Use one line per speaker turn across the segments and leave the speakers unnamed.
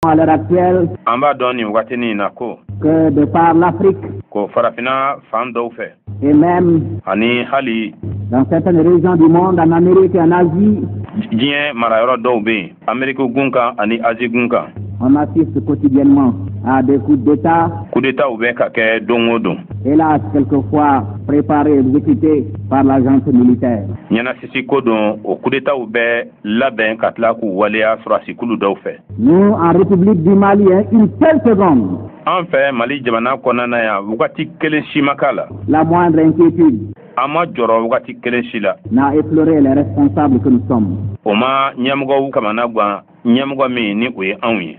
à l'heure actuelle an b'a dɔn nin wagati nin na ko que de par l'Afrique ko farafina fan dɔw fɛ et même ani hali dans certaines régions du monde en Amérique et en Asie diɲɛ marayɔrɔ dɔw bɛ yen ameriki gun kan ani azi gun kan on assiste quotidiennement à des coups d'état coup d'étatw bɛ ka kɛ don o don hélas quelquefois préparés exécutés par la junte militaire ɲɛnasisi ko don o coup d'étatw bɛ labɛn ka tila k'u waleya sɔrɔdasikulu dɔw fɛ. Nous en République du Mali hein, une seule seconde. An fɛ Mali jamana kɔnɔna na yan wagati kelen si ma k'a la. La moindre inquiétude. An ma jɔrɔ wagati kelen si la. N'a effleuré les responsables que nous sommes. O ma ɲɛmɔgɔw kamana gan ɲɛmɔgɔ min ni o ye anw ye.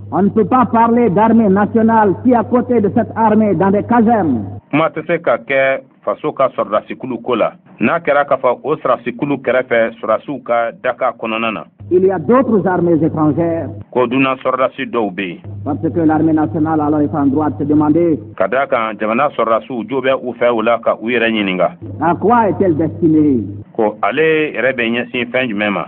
On ne peut pas parler d'armée nationale si à côté de cette armée dans des casernes. Kuma tɛ se ka kɛ faso ka sɔrɔdasikulu ko la n'a kɛra k'a fɔ o sɔrɔdasikulu kɛrɛfɛ sɔrɔdasiw ka daka kɔnɔna na. Il y a d'autres armées étrangères. Ko dunan sɔrɔdasi dɔw bɛ yen. Parce que l'armée nationale alors est en droit de se demander. Ka d'a kan jamana sɔrɔdasiw jo bɛ u fɛ o la ka u yɛrɛ ɲininka. À quoi est-elle destinée? Ko ale yɛrɛ bɛ ɲɛsin fɛn jumɛn ma?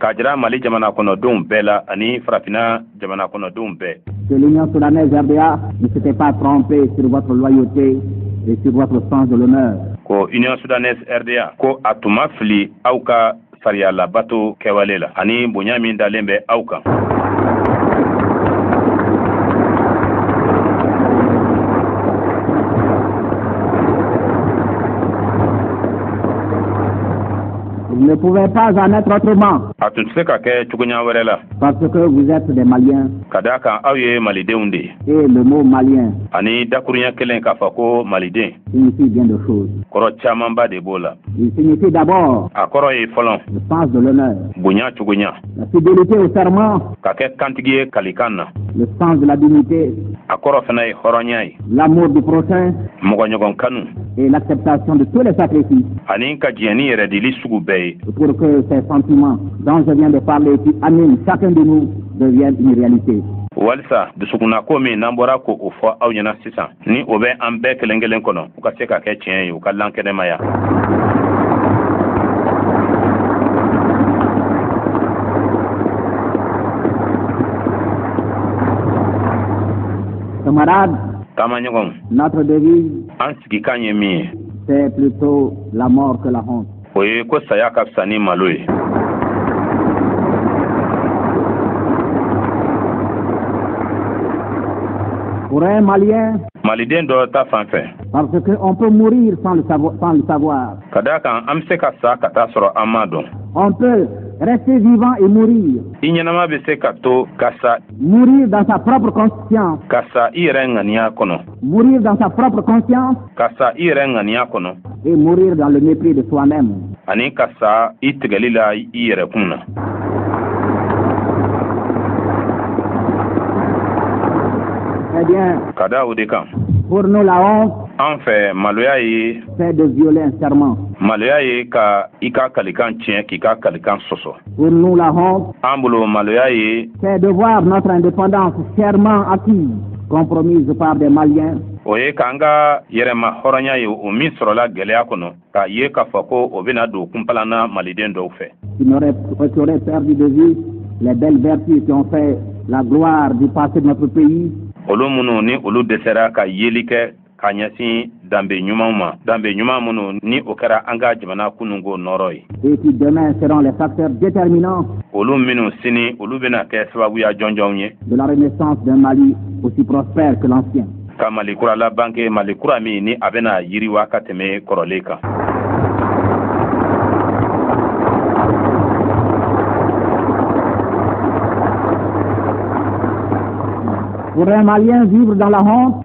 k'a jira mali
jamana kɔnɔdenw bɛɛ la ani farafina jamana kɔnɔdenw bɛɛ que l'Union soudanaise
RDA ne s'était pas trompée sur votre loyauté et sur votre sens de l'honneur. Ko Union
soudanaise RDA ko a tun ma fili aw ka sariya labato kɛwale la ani bonya min dalen bɛ aw kan.
Il ne pouvait pas en être autrement. A tun tɛ se ka
kɛ cogoya wɛrɛ la.
Parce que vous êtes des Maliens. Ka d'a kan aw ye Malidenw de ye. Et le mot Malien. Ani dakuruɲɛ kelen k'a fɔ ko Maliden. Signifie bien de choses. Kɔrɔ camanba de b'o la. Il signifie d'abord. A kɔrɔ ye fɔlɔ. Le sens de l'honneur. Bonya cogoya. La fidélité au serment. Ka kɛ kantigi ye kalikan na. Le sens de la dignité. A kɔrɔ fana ye hɔrɔnya ye. L'amour du prochain. Mɔgɔɲɔgɔn kanu. Et l'acceptation de tous les sacrifices. Ani ka diɲɛ ni yɛrɛ dili sugu bɛɛ ye. Pour que ces sentiments dont je viens de parler qui animent chacun de nous deviennent une réalité. walisa
dusukunna ko min n'an bɔra ka o fɔ aw ɲɛna sisan ni o bɛ an bɛɛ kelen kelen kɔnɔ u ka se ka kɛ tiɲɛ ye u ka lankɛnɛmaya
Camarade. Taamaɲɔgɔn. Notre devise. An sigikan ye min ye. C'est plutôt la mort que la honte. O ye ko saya
ka fisa ni malo ye.
Pour un Malien. Maliden dɔ
ta fan fɛ. Parce que on
peut mourir sans le savoir. Sans le savoir. Ka d'a kan an bɛ
se ka sa ka t'a sɔrɔ an m'a dɔn. On peut
rester vivant et mourir. I ɲɛnama bɛ se ka
to ka sa Mourir dans
sa propre conscience. Ka sa i
yɛrɛ ŋaniya kɔnɔ. Mourir dans sa
propre conscience. Ka sa i yɛrɛ ŋaniya kɔnɔ. Et mourir dans le mépris de soi-même. Ani
ka sa i tigɛli la i yɛrɛ kun na.
Eh bien. Ka da o de
kan. Pour nous la
honte. An fɛ maloya
ye. C'est de violer un
serment. Maloya ye ka
i ka kalikan tiɲɛ k'i ka kalikan sɔsɔ. Pour nous,
la honte,
an bolo maloya ye c'est de voir
notre indépendance chèrement acquise, compromise par des Maliens. o ye k'an ka
yɛrɛmahɔrɔnya ye o min sɔrɔla gɛlɛya kɔnɔ k'a ye k'a fɔ ko o bɛna don kunpalan na maliden dɔw
fɛ qui auraient perdu de vue les belles vertus qui ont fait la gloire du passé de notre pays. Olu minnu ni
olu dɛsɛra ka yeli kɛ ka ɲɛsin danbe ɲumanw ma danbe ɲuman minnu ni o kɛra an ka jamana kununko nɔrɔ ye
olu minnu
sini olu bɛna kɛ sababuya jɔnjɔnw
ye ka mali kura
labanke mali kura min ni a bɛna yiriwa ka tɛmɛ kɔrɔlen kan
Faudrait un Malien vivre dans la honte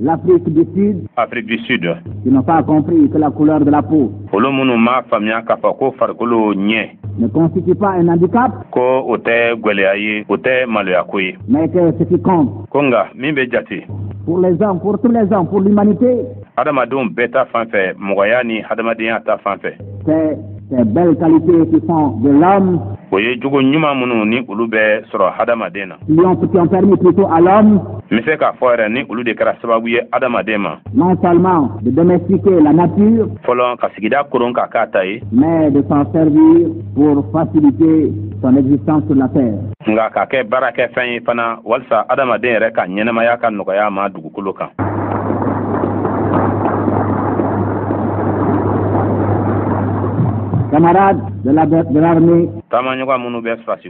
L'Afrique du
Sud. Afrique du Sud.
Qui n'ont pas
compris que la couleur de la peau. Olu minnu m'a
faamuya k'a fɔ ko farikolo ɲɛ. Ne constitue pas
un handicap. Ko o tɛ
gwɛlɛya ye, o tɛ maloya ko ye. Mais que ce qui compte.
Ko nka min bɛ
jate. Pour les hommes,
pour tous les hommes, pour l'humanité. Adamadenw
bɛɛ ta fan fɛ, mɔgɔya ni hadamadenya ta fan fɛ. C'est ces
belles qualités qui font de l'homme. O ye jogo
ɲuman minnu ni olu bɛ sɔrɔ hadamaden na. qui ont permis
plutôt à l'homme n bɛ se k'a fɔ
yɛrɛ ni olu de kɛra sababu ye adamaden ma non
seulement de domestiquer la nature fɔlɔ ka sigida
koron k'a k'a ta ye mais de s'en
servir pour faciliter son existence sur la terre nka k'a
kɛ baarakɛfɛn ye fana walisa adamaden yɛrɛ ka ɲɛnamaya ka nɔgɔya ma dugukolo
kan camarades de l'armée taamaɲɔgɔn minnu bɛ
sɔrɔsi